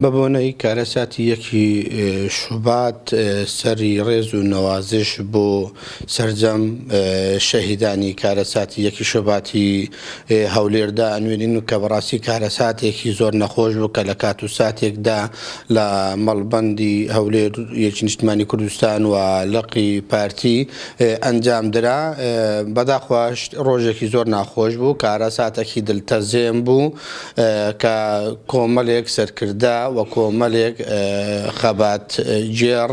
بە بۆنەی کارەساتی یەکی شوبات سەری ڕێز و نەوازش بۆ سەرجەم شەهیدانی کارەساتی یەکی شوباتی هەولێر دا ئەنوێنین و کە بەڕاستی کارەساتێکی زۆر نەخۆش بوو کە لە کات و ساتێکدا لە مەڵبەندی هەولێر یەکی نیشتمانی کوردستان و لقی پارتی ئەنجام درا بەداخواش ڕۆژێکی زۆر ناخۆش بوو کارەساتەکی دلتەزێن بوو کە کۆمەلێک سەرکردە و کۆمەلێک خەبات گێڕ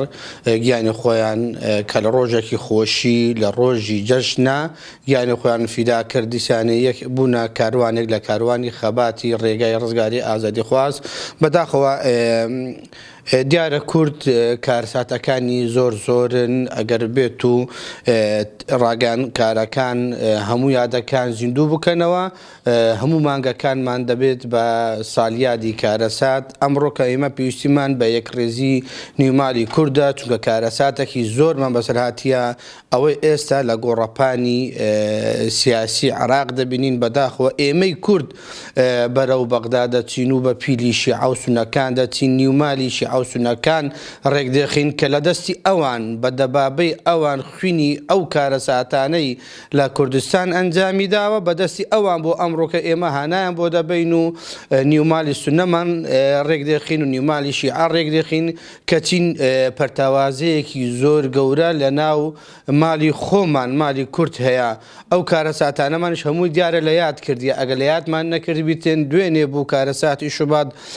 گیانی خۆیان کە لە ڕۆژێکی خۆشی لە ڕۆژی جەژنە گیانی خۆیان فیدا کرد دیسانێ یەک بوونە کاروانێک لە کاروانی خەباتی ڕێگای ڕزگاری ئازادی خواز بەداخەوە دیارە کورد کارساتەکانی زۆر زۆرن ئەگەر بێت و ڕاگەیان کارەکان هەموو یادەکان زیندوو بکەنەوە هەموو مانگەکانمان دەبێت بە سالیادی کارەسات، ئەمڕۆ کە ئێمە پێویستیمان بە یەکڕیزی نیومالی کوردە، چونکە کارەساتەکی زۆرمان بەسەر هاتیە، ئەوەی ئێستا لە گۆڕەپانی سیاسی عێراق دەبینین، بەداخەوە ئێمەی کورد بەرەو بەغدا دەچین و بە پیلی شیعە و سونەکان دەچین، نیومالی شیعە و سونەکان ڕێکدەخەین، کە لە دەستی ئەوان، بە دەبابەی ئەوان خوینی ئەو کارەساتانەی. لە کوردستان ئەنجامی داوە بەدەستی ئەوان بۆ ئەمڕۆکە ئێمە هانایان بۆ دەبەین و نیو مالی سونەمان ڕێک دێخین و نیومالی شیعە ڕێک دێخین کەچین پەرتاوازەیەکی زۆر گەورە لە ناو مالی خۆمان مالی کورت هەیە ئەو کارە ساتانەمانش هەمووی دیارە لە یاد کردی ئەگە لە یادمان نەکردبیتێن دوێنێ بوو کارە ساتی شوبات